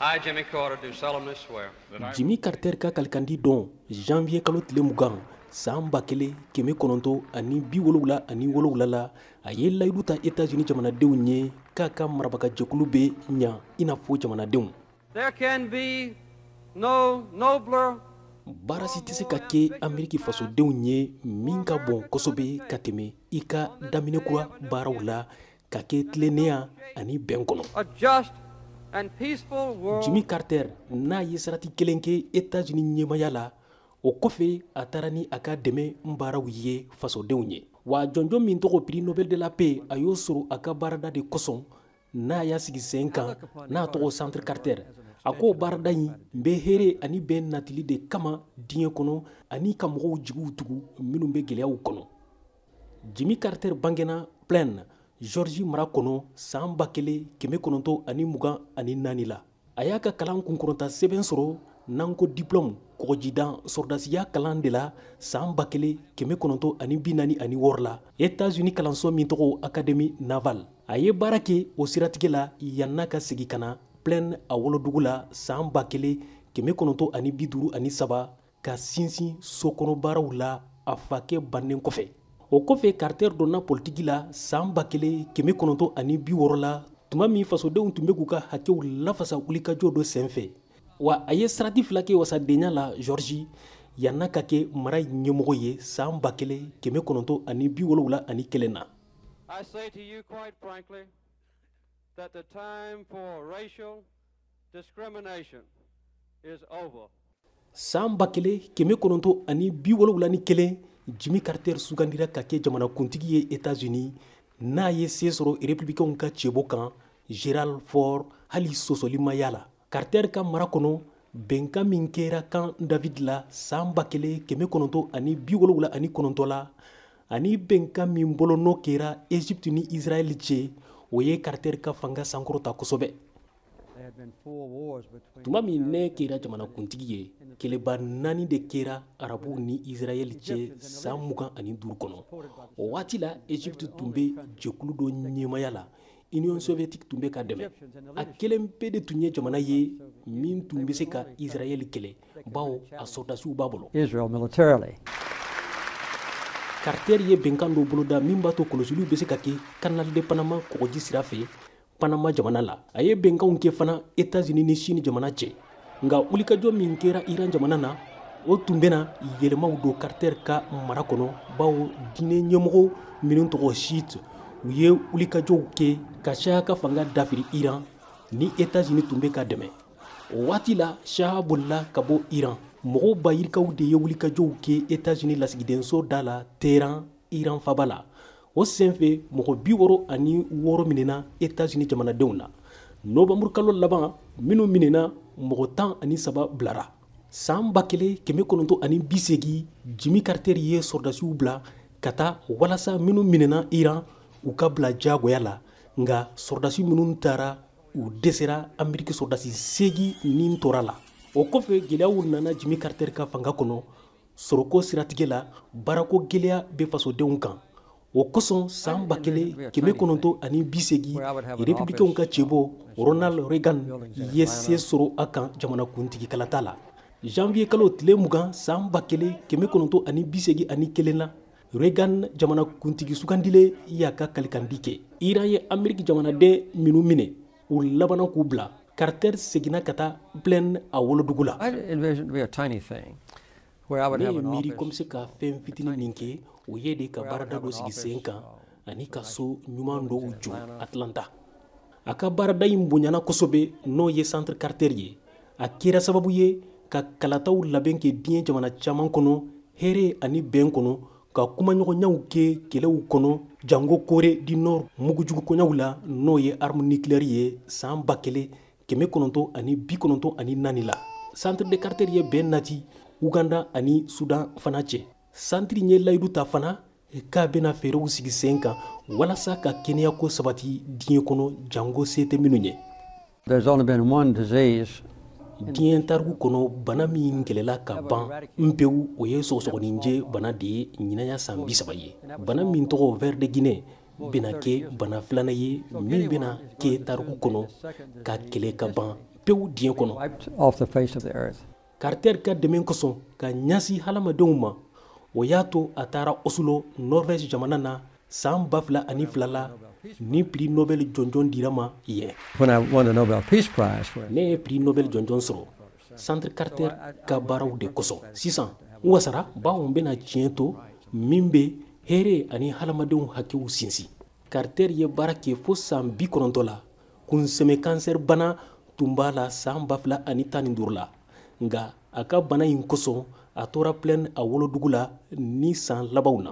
I, Jimmy Carter, do solemnly swear. Jimmy Carter ka kalikandi don janvier kalo tile mugan san ba kelen kɛmɛ kɔnɔntɔ ani bi wolowula ani wolowula la a ye layidu ta etats-unis jamanadenw ye k'a ka marabagajɛkulu bɛ ɲa i n'a fɔ jamanadenw There can be no nobler baara si tɛ se ka kɛ ameriki fasodenw ye min ka bon kosɛbɛ ka tɛmɛ i ka daminɛ kura baaraw la ka kɛ tilennenya ani bɛn kɔnɔ jimmy carter n'a ye sarati kelen kɛ etats-unis ɲɛmaya la o kɔfɛ a taara ni a ka dɛmɛ baaraw ye fasodenw ye wa jɔnjɔn min tɔgɔ prix nobel de la paix a y'o sɔrɔ a ka baarada de kosɔn n'a y'a sigi sen kan n'a tɔgɔ centre carter a ko baarada in bɛ hɛrɛ ani bɛn natili de kama diɲɛ kɔnɔ ani ka mɔgɔw jigiw tugu minnu bɛ gɛlɛyaw kɔnɔ jimmy carter bangena plains georgie mara kɔnɔ saan ba kelen kɛmɛ kɔnɔntɔ ani mugan ani naani la a y'a ka kalan kunkɔrɔta sɛbɛn sɔrɔ n'an ko diplɔmu kɔgɔjidan sɔrɔdasiya kalan de la saan ba kelen kɛmɛ kɔnɔntɔ ani bi naani ani wɔɔrɔ la etats-unis kalanso min tɔgɔ académie navale a ye baara kɛ o siratigɛ la yann'a ka segi ka na plains a wolodugu la saan ba kelen kɛmɛ kɔnɔntɔ ani bi duuru ani saba ka sinsin sokɔnɔbaaraw la a fakɛ bannen kɔfɛ o kɔfɛ carter donna politiki la saan ba kelen kɛmɛ kɔnɔntɔ ani bi wɔɔrɔ la tuma min fasodenw tun bɛ k'u ka hakɛw lafasa wulikajɔ dɔ senfɛ wa a ye sarati fila kɛ wasadenya la georgie yann'a ka kɛ mara ɲɛmɔgɔ ye saan ba kelen kɛmɛ kɔnɔntɔ ani bi wolowula ani kelen na Discrimination is over. San ba kelen kɛmɛ kɔnɔntɔn ani bi wolowula ni kelen Jimmy Carter sugandira ka kɛ jamanakuntigi ye Etats-Unis n'a ye se sɔrɔ republikɛnw ka cɛbɔ kan Gerald Ford hali sɔsɔlimaya la Carter ka mara kɔnɔ bɛnkan min kɛra Camp David la san ba kelen kɛmɛ kɔnɔntɔn ani bi wolowula ani kɔnɔntɔn la ani bɛnkan min bolonɔ kɛra egypte ni israɛl cɛ o ye carter ka fanga sankɔrɔta kosɛbɛ tuma min ne kɛra jamanakuntigi ye kɛlɛba naani de kɛra arabuw ni israɛl cɛ san mugan ani duuru kɔnɔ o waati la egypte tun bɛ jɛkulu dɔ ɲɛmaya la Union soviétique tun bɛ ka dɛmɛ a kelen pe de tun ye jamana ye min tun bɛ se ka Israël kɛlɛ bawo a sɔrɔdasiw b'a bolo Israel militarily Carter ye bɛnkan dɔ boloda min b'a to kɔlɔsiliw bɛ se ka kɛ Canal de Panama kɔgɔji sira fɛ Panama jamana la a ye bɛnkanw kɛ fana Etats-Unis ni Chine jamana cɛ nka wulikajɔ min kɛra iran jamana na o tun bɛna yɛlɛmaw don carter ka mara kɔnɔ bawo diinɛ ɲɛmɔgɔ minnu tɔgɔ chiite u ye wulikajɔw kɛ ka shah ka fanga dafiri iran ni etats-unis tun bɛ ka dɛmɛ o waati la shah bolila ka bɔ iran mɔgɔw bayirikaw de ye wulikajɔw kɛ etats-unis lasigidenso da la teheran iran faba la o senfɛ mɔgɔ bi wɔɔrɔ ani wɔɔrɔ minɛna etazini jamanadenw na nowanburu kalo laban minnu minɛna mɔgɔ tan ani saba bilara saan ba kelen kɛmɛ kɔnɔntɔ ani bisegi jimi karitɛri ye sɔrɔdasiw bila ka taa walasa minnu minɛna iran u ka bila jagoya la nka sɔrɔdasi minnu taara u dɛsɛra ameriki sɔrɔdasi segi ni tora la o kɔfɛ gɛlɛyaw nana jimi karitɛri ka fanga kɔnɔ sɔrɔko siratigɛ la baarako gɛlɛya bɛ fasodenw kan o kosɔn saan ba kelen kɛmɛ kɔnɔntɔn ani bi segi republikɛnw ka cɛbɔ ronald reagan ye se sɔrɔ a kan jamanakuntigi kalata la janvier kalo tile mugan saan ba kelen kɛmɛ kɔnɔntɔn ani bi segi ani kelen na reagan jamanakuntigi sugandilen y'a ka kalikandi kɛ iran ye ameriki jamanaden minnu minɛ u labana k'u bila carter seginna ka taa plains a wolodugu la ne ye miiri ko n bɛ se ka fɛn fitini min kɛ o ye de ka baarada dɔ sigi sen kan ani ka so ɲuman dɔw jɔ atlanta a ka baarada in bonyana kosɛbɛ n'o ye centre carter ye a kɛra sababu ye ka kalataw labɛn kɛ diɲɛ jamana caman kɔnɔ hɛrɛ ani bɛn kɔnɔ ka kumaɲɔgɔnyaw kɛ kɛlɛw kɔnɔ jango corée du nord mugujugu koɲaw la n'o ye arme nucléaire ye saan ba kelen kɛmɛ kɔnɔntɔ ani bi kɔnɔntɔ ani naani la centre de carter ye bɛn nati uganda ani sudan fana cɛ centre ye layidu ta fana k'a bɛna fɛɛrɛw sigi sen kan walasa ka kɛnɛyako sabati diɲɛ kɔnɔ jango se tɛ minnu ye There's only been one disease diɲɛ tariku kɔnɔ bana min kɛlɛla ka ban npewu o ye sɔgɔsɔgɔninjɛ bana de ye ɲinan y'a san bi saba ye bana min tɔgɔ ver de Guinée bɛna kɛ bana filanan ye min bɛna kɛ tariku kɔnɔ ka kɛlɛ ka ban pewu diɲɛ kɔnɔ Carter ka dɛmɛ kosɔn ka ɲasi hadamadenw ma o y'a to a taara Oslo, Norvège jamana na san 2002 la ni prix Nobel jɔnjɔn dira ma yen. Ne ye prix Nobel jɔnjɔn sɔrɔ Centre Carter ka baaraw de kosɔn. Sisan n wasara bawo n bɛna tiɲɛ to min bɛ hɛɛrɛ ani hadamadenw hakɛw sinsin. Carter ye baara kɛ fo san bi kɔnɔntɔ la kunsɛmɛ kansɛri bana tun b'a la saan ba fila ani tan ni duuru la nka a ka bana in kosɔn a tora Plains a wolodugu la nin saan labanw na